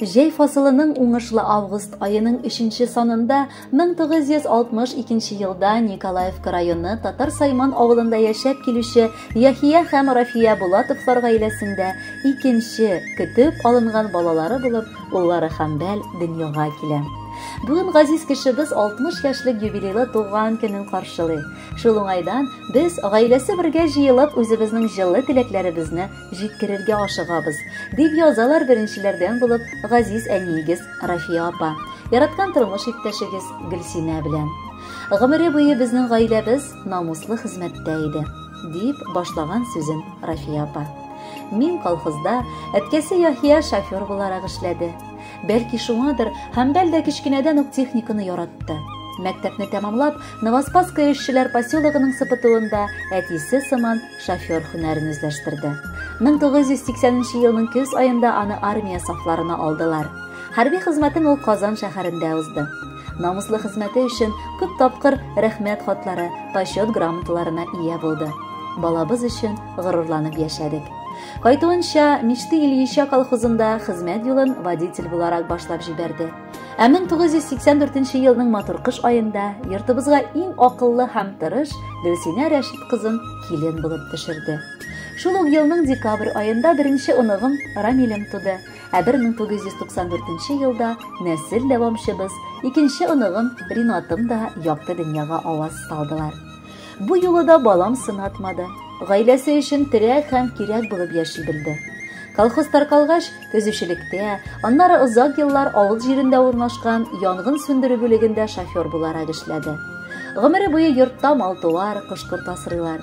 Җәй фасылының уңышлы август аеның 3 санында 1962 елда Николаевка районы Татар Сайман авылында яшәп килүче Яхия һәм Рафия Булатовлар гаиләсендә икенче көтеп алынган балалары булып уллары Хәмбәл дөньяга килә. Бүген газиз кешебез 60 яшьлек юбилейлы туган көнен каршылый. Шул уңайдан без гаиләсе бергә җыелып үзебезнең җылы теләкләребезне җиткерергә ашыгабыз, дип язалар беренчеләрдән булып газиз әниегез Рафия апа, яраткан тормыш иптәшегез Гөлсинә белән. Гомере буе безнең гаиләбез намуслы хезмәттә иде, дип башлаган сүзен Рафия апа. Мин колхозда әткәсе Яхия шофер буларак эшләде. Бәлки шуңадыр, Хәмбәл дә кечкенәдән үк техниканы яратты. Мәктәпне тәмамлап, Новоспасское эшчеләр поселогының сыпытуында әтисе сыман шофер һөнәрен үзләштерде. 1980 елның көз аенда аны армия сафларына алдылар. Хәрби хезмәтен ул Казан шәһәрендә узды. намуслы хезмәте өчен күп тапкыр рәхмәт хатлары, почет грамоталарына ия булды. Балабыз өчен горурланып яшәдек. Кайтуынча, Мишти Ильича колхозында хезмәт юлын водитель буларак башлап җибәрде. Ә 1984 елның матур кыш аенда йортыбызга иң акыллы һәм тырыш Гөлсинә Рәшит кызын килен булып төшерде. Шул ук елның декабрь аенда беренче оныгым Рамилем туды. Ә 1994 елда нәсел дәвамчыбыз, икенче оныгым Ринатым да якты дөньяга аваз салдылар. Бу юлы да балам сынатмады. Гаиләсе өчен терәк һәм кирәк булып яши белде. Колхоз таркалгач, төзүчелектә, аннары озак еллар авыл җирендә урнашкан янгын сүндерү бүлегендә шофер буларак эшләде. Гомере буе йортта мал-туар, кош-корт асрыйлар.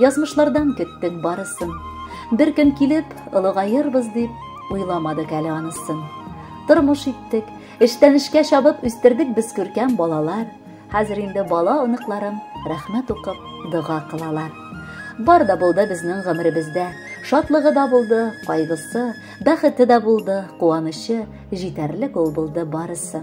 Язмышлардан көттең барысын. Бер көн килеп, олыгаербыз дип, уйламадык әле анысын. Тормыш иттек, эштән эшкә чабып үстердек без күркәм балалар. Хәзер инде бала оныкларым рәхмәт укып, дога кылалар. Бар да булды безнең гомеребездә. Шатлыгы да булды, кайгысы, бәхете дә булды, куанычы, җитәрлек ул булды барысы.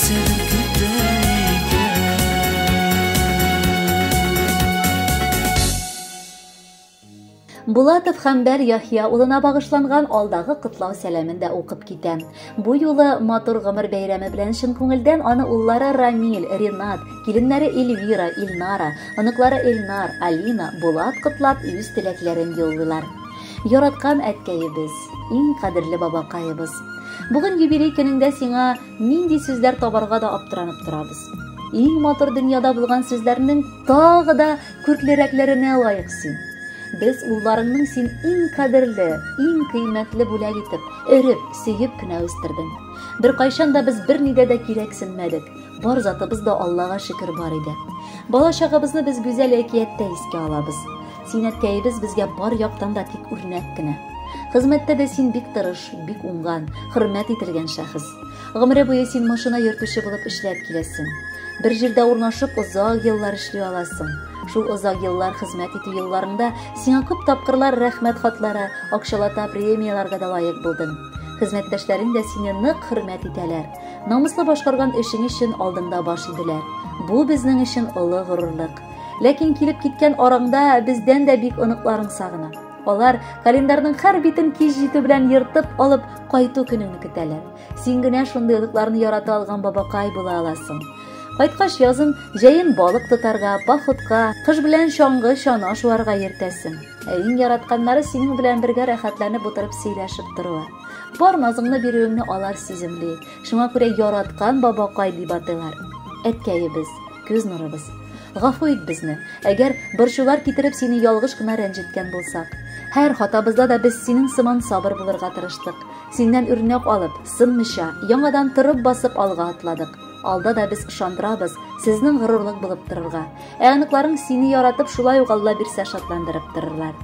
Булатов Хәмбәр Яхья улына багышланган алдагы котлау сәламен дә укып китә. Бу юлы матур гомер бәйрәме белән чын күңелдән аны уллары Рамил, Ринат, киленнәре Эльвира, Илнара, оныклары Эльнар, Алина, Булат котлап үз теләкләрен юллыйлар. Яраткан әткәебез, иң кадерле бабакаебыз. Бүген юбилей көнендә сиңа Нинди сүзләр табарга да аптыранып торабыз. Иң матур дөньяда булган сүзләрнең тагы да күрклерәкләренә лаек син. Без улларыңның син иң кадерле, иң кыйммәтле бүләк итеп, өреп, сөеп кенә үстердең. Беркайчан да без бернидә дә кирәксенмәдек. Бар затыбыз да Аллага шөкер бар иде. Бала чагыбызны без гүзәл әкияттә искә алабыз. Зиннәткәебез безгә бар яктан да тик үрнәк кенә. Хезмәттә дә син бик тырыш, бик уңган, хөрмәт ителгән шәхес. Гомере буе син машина йөртүче булып эшләп киләсең. Бер җирдә урнашып озак еллар эшли аласың. Шул озак еллар хезмәт итү елларыңда сиңа күп тапкырлар рәхмәт хатлары, акчалата премияләргә дә лаек булдың. Хезмәттәшләрең дә сине нык хөрмәт итәләр. Намуслы башкарган эшең өчен алдыңда баш иделәр. Бу безнең өчен олы горурлык. Ләкин килеп киткән араңда бездән дә бик оныкларың сагына. Алар календарьның һәр битен кич җитү белән ертып алып кайту көнеңне көтәләр. Син генә шундый оныкларны ярата алган бабакай була аласың. Кайткач язын, җәен балык тотарга, походка, кыш белән чаңгы чана шуарга йөртәсең. Ә иң яратканнары синең белән бергә рәхәтләнеп утырып сөйләшеп торуы. Бар назыңны бирүеңне алар сиземли. Шуңа күрә яраткан бабакай дип атыйлар. Әткәебез, күз нурыбыз. Гафу ит безне, әгәр борчулар китереп сине ялгыш кына рәнҗеткән булсак. Һәр хатабызда да без синең сыман сабыр булырга тырыштык. Синнән үрнәк алып, сынмыйча, яңадан торып басып алга атладык. Алда да без ышандырабыз, сезнең горурлык булып торырга. Ә аныкларың сине яратып, шулай ук Алла бирсә шатландырып торырлар.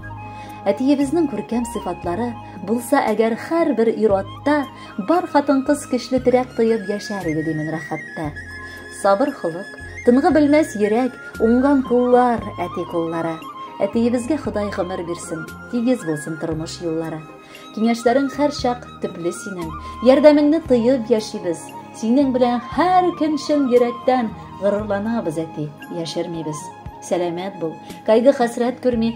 Әтиебезнең күркәм сыйфатлары булса әгәр һәрбер ир-атта Бар хатын-кыз көчле терәк тоеп яшәр иде димен рәхәттә. Сабыр холык, тынгы белмәс йөрәк, уңган куллар, әти куллары. Әтиебезгә Ходай гомер бирсен, тигез булсын тормыш юллары. Киңәшләрең һәр чак төпле синең, ярдәмеңне тоеп яшибез. Синең белән һәр көн чын йөрәктән горурланабыз, әти, яшермибез. Сәламәт бул, кайгы-хәсрәт күрми,